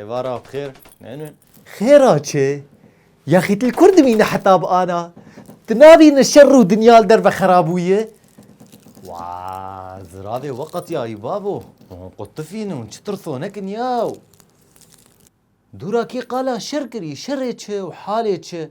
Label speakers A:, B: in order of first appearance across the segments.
A: Êvara xêr. Xêra çi? Yaxîtil kur dimîne heta bi ana. Tu nabîne şer û dinya li derve xerabûye. Wa ziravê we qetiyayî babo. Hûn qutifîn hûn çi tirsonekin yaw. Dûra kî qala şer kirî, şerê çi û halê çi.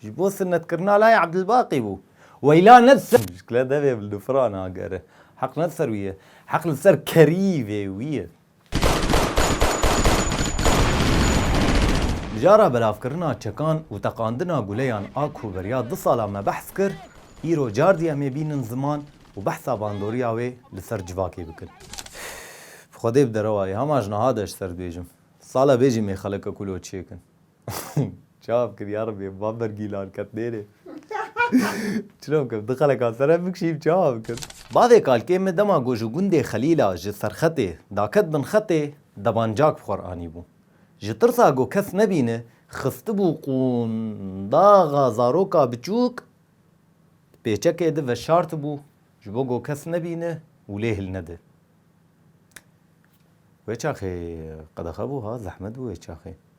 A: Ji bo sinnetkirina layê Ebdilbaqî bû. Weyla ne ser mişkile devê bi lufran agere. Heq ne ser wî ye. Heq li ser kerîvê wî ye. Mijara belavkirina çekan û teqandina guleyan a ku beriya du sala me behs kir, îro cardî em ê bînin ziman û behsa bandoriya wê li ser civakê bikin. Bi Xwedê bi derewayê hema ji niha de ji ser dibêjim. Sala bê jî mêxeleke ku lo çêkin. Çav kir yarabî van bergîlan ket nêrê. Çira bikim di xeleka sere bikşîm çawa bikim. Bavê kalkê min dema ku ji gundê Xelîla ji serxetê daket bin xetê debancak bi xwe re anîbû. Ji tirsa ku kes nebîne xistibû qûndaxa zaroka biçûk di pêçekê de veşartibû ji bo ku kes nebîne û lê hil nede. Wê çaxê qedexe bû ha zehmet bû wê çaxê.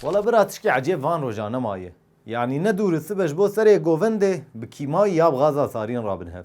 A: Wala bira tişkî ecêb van rojan nemaye. Yanî ne dûr sibe ji bo serê govindê bi kîmayî ya bi gaza sarîn rabin hev.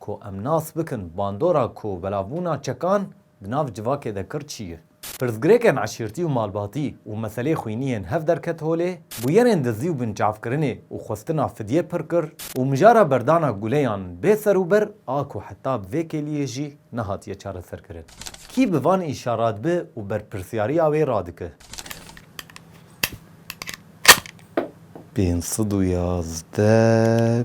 A: Ku em nas bikin bandora ku belavbûna çekan di nav civakê de kir çi ye. Pirsgirêkên eşîrtî û malbatî û meselê xwînî yên hev derket holê, bûyerên dizî û binçavkirinê û xwestina fidyê pir kir û mijara berdana guleyan bê ser û ber a ku heta bi vê kêliyê jî nehatiye çareserkirin. Kî bi van îşa radibe û berpirsyariya wê radike? Pênc sed û yazdeh.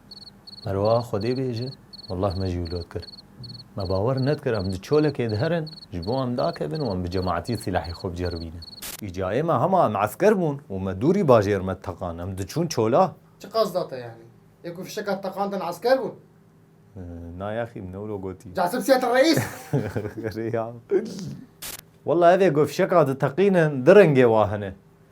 A: Merwa Xwedê bêje, Wallah me jî wilo dikir. Me bawer nedikir em di çolekê de herin, ji bo em dakevin û em bi cemaetî sîlahê xwe biceribînin. Wî cayê me hema em esker bûn û me dûrî bajêr me teqan, em diçûn çola. Çi qas da te yanî?
B: Yê ku fişeka teqandin esker bûn? Na
A: yaxî, min ewro gotî. Casip Siyet Reîs!
B: Rêya.
A: Wallah ev ê ku fişeka diteqînin di rengê wa hene.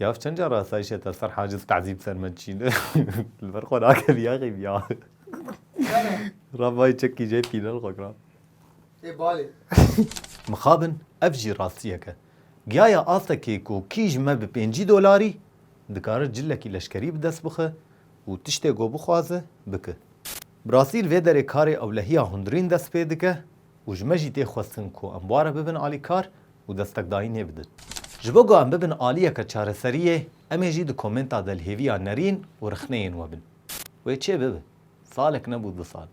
A: Yav çend car asayişê te ser haciz tezîb ser me diçîne li ber xwe nakevî yexî ya. Rabayî çekî jê pînel xwe kira. Ê balê.
B: Mixabin
A: ev jî rastiyek e. Giyaya astekê ku kî ji me bi pêncî dolarî dikare cilekî leşkerî bi dest bixe û tiştê ku bixwaze bike. Bi rastî li vê derê karê ewlehiya hundirîn dest pê dike. Û ji me jî tê xwestin ku em ware bibin alîkar û destekdayînê bidin. Ji bo ku em bibin aliyeke çareseriyê, em ê jî di komenta de li hêviya nerîn û rixneyên we bin. Wê çê bibe. Salek nebû du sal.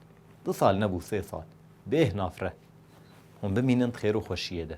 A: Du sal nebû sê sal. Bêh nafre. Hûn bimînin di xêr û xweşiyê de.